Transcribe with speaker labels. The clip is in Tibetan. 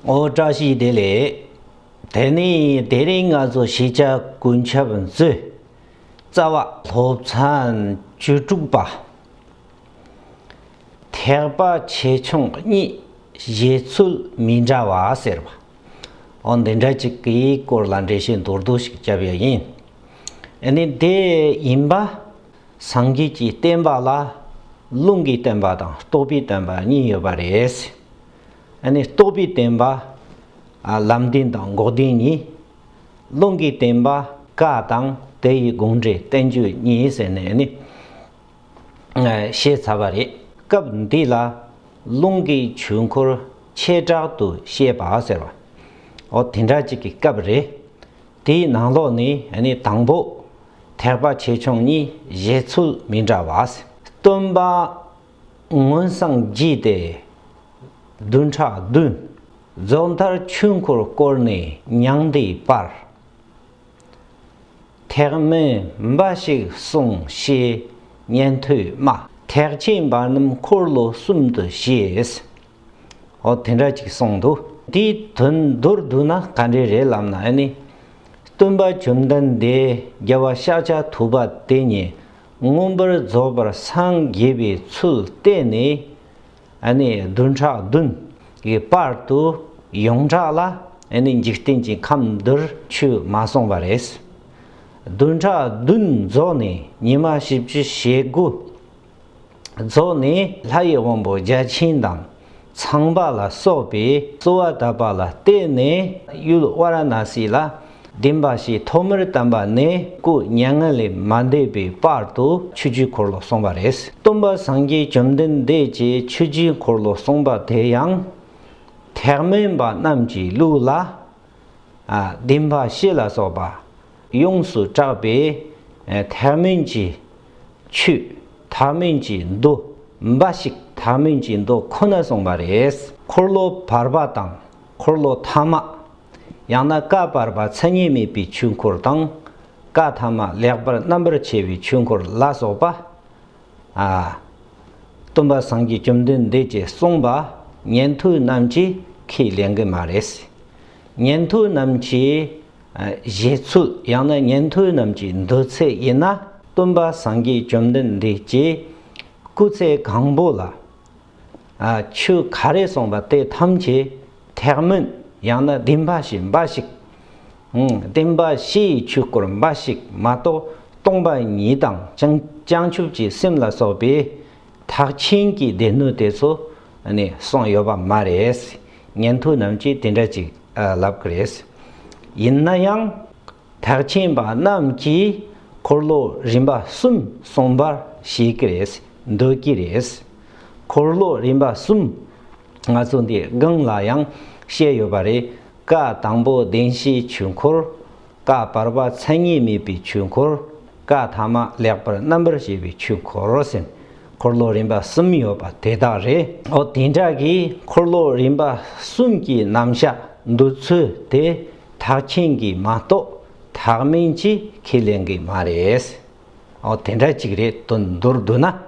Speaker 1: ཨོ་བཀྲ་ཤིས་བདེ་ལེགས། དེ་ནས་དེ་རིང་ང་ཚོ་ཤེས་བྱ་ཀུན་ཁྱབ་མཛོད། རྩ་བ། སློབ་ཚན་བཅུ་དྲུག་པ། ཐེག་པ་ཆེ་ཆུང་གཉིས་བཞེད་ཚུལ་མི་འདྲ་བ་ཟེར་བ། ཨོ་འདི་འདྲ་ཅིག་གི་སྐོར་ལ་འགྲེལ་བཤད་མདོར་བསྡུ་ཞིག་བརྒྱབ་ཡ་ཡིན། ཨེ་ནི་དེ་ཡིན་པ། སངས་རྒྱས་ཀྱི་བསྟན་པ་ལ་རླུང་གི་བསྟན་པ་དང་རྟོག་པའི་བསྟན་པ་གཉིས་ཡོད་པ་རེད། ནི་རྟོགས་པའི་བསྟན་པ། ལམ་བདེན་དང་འགོག་བདེན་གཉིས། རླུང་གི་བསྟན་པ་ཀ་དང་དེ་ཡི་དགོངས་འགྲེལ་བསྟན་བཅོས་གཉིས་ཟེར་ནས་ནི། བཤད་ཚར་བ་རེད། སྐབས་འདི་ལ་རླུང་གི་ཆོས་འཁོར་ཆེ་དྲག་ཏུ་བཤད་པ་ཟེར་བ། འོ་དེ་འདྲ་ཅིག་གི་སྐབས་རེད། དེའི་ནང་ལོགས་ནས་ནི་དང་པོ། ཐེག་པ་ཆེ་ཆུང་གཉིས་བཞེད་ཚུལ་མི་འདྲ་བ། སྟོན་པ་མངོན་བསངས་བགྱིས་ཏེ་བདུན་ཕྲག་བདུན། རྫོགས་མཐར་ཆོས་འཁོར་བསྐོར་ནས་མྱང་འདས་སྤར། ཐེག་དམན་འབའ་ཞིག་གསུང་བཤད་ཉན་ཐོས་སྨྲ། ཐེག་ཆེན་འབར་རྣམས་འཁོར་ལོ་གསུམ་དུ་ཤེས། ཨོ་དེ་འདྲ་ཅིག་གསུངས་འདུག། དེའི་དོན་མདོར་བསྡུ་ན་ག་འདྲའི་རེད་ལབ་ན་ནི། སྟོན་པ་བཅོམ་ལྡན་འདས་རྒྱལ་བ་ཤཱཀྱ་ཐུབ་པ་དེ་ཉིད་མངོན་པར་རྫོགས་པར་སངས་རྒྱས་པའི་ཚུལ་བསྟན་ནས། བདུན་ཕྲག་བདུན་གྱི་བར་དུ་ཡོངས་གྲགས་ལ་འཇིག་རྟེན་གྱི་ཁམས་འདིར་ཆོས་མ་གསུངས་པ་རེད། བདུན་ཕྲག་བདུན་རྫོགས་ནས་ཉི་མ་བཞི་བཅུ་ཞེ་དགུ་རྫོགས་ནས་ལྷ་ཡི་དབང་པོ་བརྒྱ་བྱིན་དང། ཚངས་པ་ལ་སོགས་པའི་གསོལ་བ་གདབ་པ་ལ་བརྟེན་ནས་གཡུལ་བ་ར་ན་སི་ལ་བདེན་པ་ཞེས་ཐོག་མར་བལྟམས་པ་ནས་སྐུ་མྱ་ངན་ལས་མ་འདས་པའི་བར་དུ་ཆོས་བཅུའི་འཁོར་ལོ་གསུངས་པ་རེད། སྟོན་པ་སངས་རྒྱས་བཅོམ་ལྡན་འདས་ཀྱིས་ཆོས་བཅུའི་འཁོར་ལོ་གསུངས་པ་དེ་ཡང། ཐེག་དམན་པ་རྣམས་ཀྱི་ལུགས་ལ། བདེན་པ་བཞི་ལ་སོགས་པ་ཡོངས་སུ་གྲགས་པའི་དྷཱི་མུན་གྱི་ཆུ། དྷཱི་མུན་གྱི་མདོ། འབའ་ཞིག་དྷཱི་མུན་གྱི་མདོ་ཁོ་ན་གསུངས་པ་རེད། འཁོར་ལོ་བར་པ་དང་འཁོར་ལོ་ཐ་མ། ཡང་ན་བཀའ་བར་པ་མཚན་ཉིད་མེད་པའི་ཆོས་འཁོར་དང། བཀའ་ཐ་མ་ལེགས་པར་རྣམ་པར་ཕྱེ་བའི་ཆོས་འཁོར་ལ་སོགས་པ། སྟོན་པ་སངས་རྒྱས་བཅོམ་ལྡན་འདས་ཀྱིས་གསུངས་པ་ཉན་ཐོས་རྣམས་ཀྱིས་ཁས་ལེན་གྱི་མ་རེད། ཉན་ཐོས་རྣམས་ཀྱིས། བཞེས་ཚུལ་ཡང་ན་ཉན་ཐོས་རྣམས་ཀྱི་འདོད་ཚད་ཡིན་ན་སྟོན་པ་སངས་རྒྱས་བཅོམ་ལྡན་འདས་ཀྱིས་སྐུ་ཚེ་གང་པོ་ལ་ཆོས་ག་རེ་གསུངས་པ་དེ་ཐམས་ཅད་ཐེག་དམན་ཡང་ན་བདེན་པ་ཞེས་འབའ་ཞིག་བསྟན་པ་ཕྱི་ཡི་ཆོས་སྐོར་འབའ་ཞིག་མ་གཏོགས་སྟོང་པ་ཉིད་དང་བྱང་ཆུབ་ཀྱི་སེམས་ལ་སོགས་པའི་ཐག་ཆེན་གྱི་སྡེ་སྣོད་དེ་ཚོ་ནས་གསུངས་ཡོད་པ་མ་རེད། ཉན་ཐོས་རྣམས་ཀྱིས་དེ་འདྲ་ཅིག་ལབ་གི་རེད། ཡིན་ན་ཡང། ཐག་ཆེན་པ་རྣམས་ཀྱིས་འཁོར་ལོ་རིམ་པ་གསུམ་གསུངས་པར་བཤད་ཀྱི་རེད་འདོད་ཀྱི་རེད། འཁོར་ལོ་རིམ་པ་གསུམ་ང་ཚོ་འདིའི་སྒང་ལ་ཡང་བཤད་ཡོད་པ་རེད། བཀའ་དང་པོ་བདེན་བཞིའི་ཆོས་འཁོར། བཀའ་བར་པ་མཚན་ཉིད་མེད་པའི་ཆོས་འཁོར། བཀའ་ཐ་མ་ལེགས་པར་རྣམ་པར་བཤད་པའི་ཆོས་འཁོར་སེམས་འཁོར་ལོ་རིམ་པ་གསུམ་ཡོད་པ་དེ་དག་རེད། འོ་དེ་འདྲ་གི་འཁོར་ལོ་རིམ་པ་གསུམ་གྱི་རྣམ་གཞག་འདུག་ཚུལ་དེ་དག་མཁྱེན་གི་མ་གཏོགས་དག་མིན་གྱི་ཁས་ལེན་གི་མ་རེད། འོ་དེ་འདྲ་ཅིག་རེད་དོ་འདུར་འདུག་ན།